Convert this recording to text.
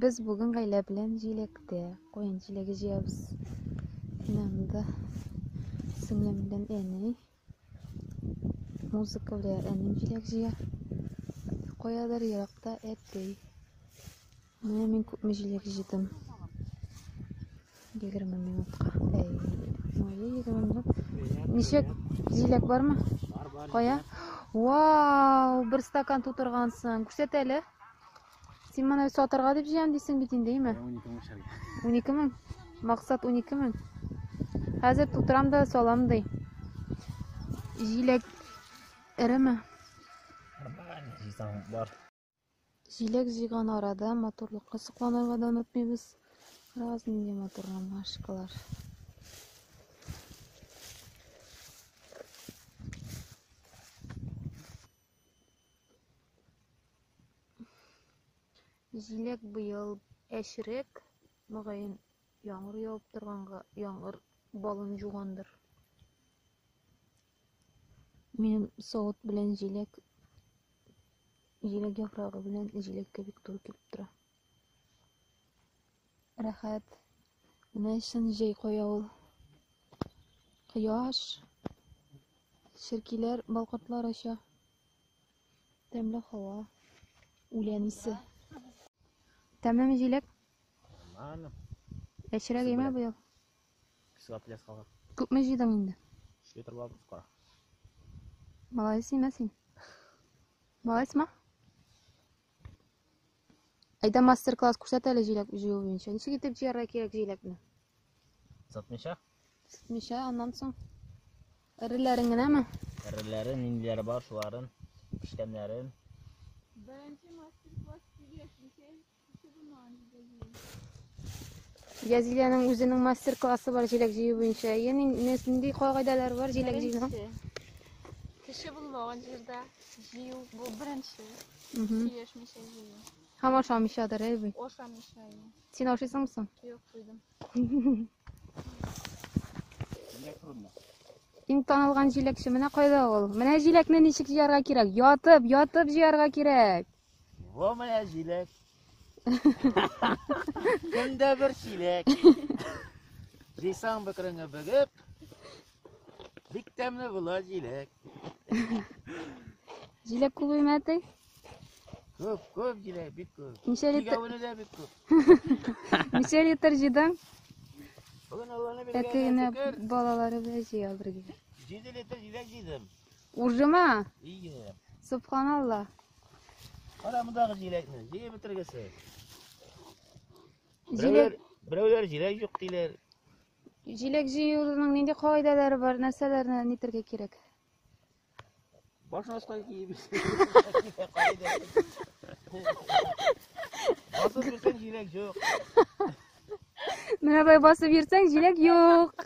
Без бүген гаилә белән җиләктә, куен җиләге җыябыз. Инанда сеңлем белән әни музыка белән әнем җиләк җыя. Каядыр еракта әти. Менә мин күпме җиләк җыйдым. 20 минутка. Әй, моя 20 минут. Ничек җиләк бармы? Бар, бар. Кая? Вау, бер стакан тутыргансың. Күрсәт әле. Син моны сатырга дип җыям дисең бит инде, әйме? 12 мең шәр. 12 мең. Максат 12 мең. Хәзер тутырам да салам ди. Җиләк эреме? Бар. Җиләк җыйган арада матурлыкка сокланырга да онытмыйбыз. Раз нинди матур ромашкалар. Җиләк быел әчерәк, мөгаен, яңгыр явып торганга яңгыр балын җугандыр. Минем савыт белән җиләк җиләк яфрагы белән җиләккә бик туры килеп тора. Рәхәт. Менә чын җәй кая ул. Кояш. Черкиләр, балкортлар оча. Тәмле һава. Үлән исе. Тәмлеме җиләк? Нормально. Яшьрәк имә быел. Кисеп пляс калган. Күпме җыйдың инде? Өч литр була бит кара. Малайс имә син. Малайсма? Әйдә мастер-класс күрсәт әле җиләк җыю буенча. Ничек итеп җыярга кирәк җиләкне? Сатмыйча? Сатмыйча, аннан соң. Эреләрен генәме? Эреләрен, ниндиләре бар, шуларын, пешкәннәрен. Беренче мастер-класс килеш, Язилянең үзенең мастер-классы бар җиләк җыю буенча. Яни нинди кагыйдәләр бар җиләк җыюның? Кеше булмаган җирдә җыю бу беренче. Сөйләшмичә җыю. Һәм ашамыйчадыр, әй бит. Ашамыйча. Син ашыйсыңмы соң? Юк, туйдым. Иң танылган җиләкче менә кайда ул? Менә җиләкне ничек җыярга кирәк? Ятып, ятып җыярга кирәк. Во моя җиләк. Көндә бер чиләк. Җыйсаң бөкреңе бөгеп. Бик тәмле була җиләк. Җиләк күп имәтей? Күп, күп җиләк, бик күп. Ничә литр? Тигәвене дә бик күп. Ничә литр җыйдың? Бүген Алланы Әти генә билгеләгән балалары белән җыя бергә. 7 литр җиләк җыйдым. Уржыма? Ие. Субханалла. Кара мондагы җиләкне, җыеп бетергесе. Җиләк, Берәүләр җиләк юк диләр. җиләк җыюның нинди кагыйдәләре бар, нәрсәләрне нитергә кирәк? Баш аска киеп. Басып йөрсәң җиләк юк. Менә болай басып йөрсәң, җиләк юк.